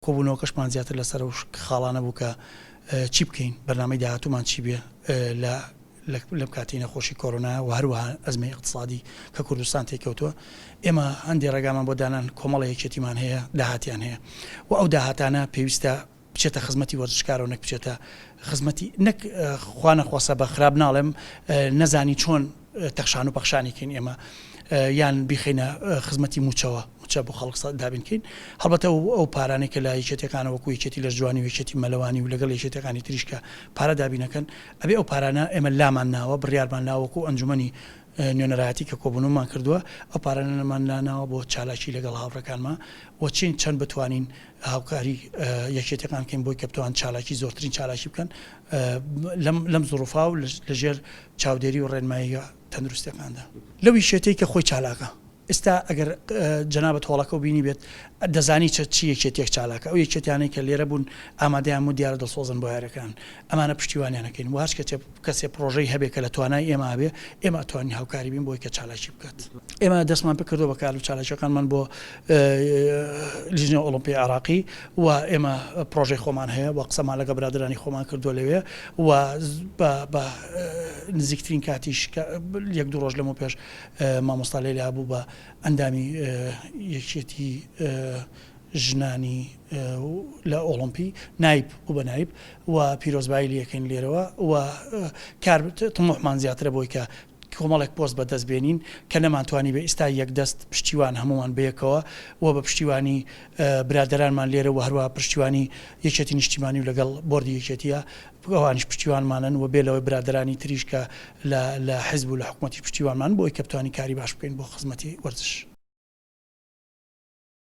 کۆبوونەوەکەشمان زیاتر لەسەر ئەو خاڵانە بوو کە چی بکەین، بەرنامەی داهاتوومان چی بێ لە لەم کاتی نەخۆشی کۆرۆنا و هەروەها ئەزمەی اقتصادی کە کوردستان تێکەوتووە ئێمە هەندێک ڕێگامان بۆ دانان کۆمەڵە یەکێتیمان هەیە داهاتیان هەیە و ئەو داهاتانە پێویستە بچێتە خزمەتی وەرزشکارەوە نەک بچێتە خزمەتی نەک خوا نەخواسە بە خراپ ناڵێم نەزانی چۆن تەخشان و پەخشانی کەین ئێمە یان بیخینە خزمەتی موچەوە موچە بۆ خەڵک دابین کەین هەڵبەتە و ئەو پارانێک کە لە یەکێتەکانە وەکو یەکێتی لە جوانی وێکێتی مەلەوانی و لەگەڵ یەکێتەکانی تریشکە پارە دابینەکەن ئەبێ ئەو پارانە ئێمە لامان ناوە بڕیارمان ناوەکو ئەنجومی نوێنەرایەتی کە کۆبنمان کردووە ئەو پارانەمان لاناوە بۆ چالاکی لەگەڵ هاوڕەکانمان وە چین چەند بتوانین هاوکاری یەکێتیەکان بکەین بۆی کە بتوان چالاکی زۆرترین چالاکی بکەن لەم لەم زڕوفا و لە ژێر چاودێری و ڕێنماییە تەندروستەکاندا لەو یشێتەی کە خۆی چالاکە ئستا ئەگەر جەنابت هۆڵەکەو بینی بێت دەزانی چە چی یەکێتیەک چالاکە ئەو یەکێتیانەی کە لێرە بوون ئامادەیان و دیارە دڵسۆزن بۆ یارەکان ئەمانە پشتیوانیانەکەین و هەچ کەچێ کەسێ پڕۆژەی هەبێ کە لە توانای ئێمە ئابێ، ئێمە ئەتوانین هاوکاری بین بۆی کە چالاکی بکات. ئێمە دەستمان پێ کردووە بە کار و چالاکییەکانمان بۆ لیژنەی ئۆڵۆمپیی عێڕاقی و ئێمە پڕۆژەی خۆمان هەیە و قسەمان لەگەڵ برادەرانی خۆمان کردووە لەوێ و بە بە نزیکترین کاتیش کە یەک دوو ڕۆژ لەمەو پێش مامۆستا لەیلا بوو بە ئەندامی یەکیەتیی ژنانی لە ئۆڵۆمپی نایب و بە نایب و پیرۆزبایی لێکەین لێرەوە و کار تموحمان زیاترە بۆی کە کۆمەڵێک پۆست بە دەست بێنین کە نەمانتوانی بە ئیستا یەک دەست پشتیوان هەمووان بەیەکەوە و بە پشتیوانی برادەرانمان لێرە و هەروە پشتیوانی یەکێتی نیشتیمانی و لەگەڵ بۆردی یەکێتیە ئەوانیش پشتیوانمانن و بێ لەوەی برادەرانی تریش کە لە لە حزب و لە حکومەتی پشتیوانمان بۆی کە بتوانین کاری باش بکەین بۆ خزمەتی وەرزش.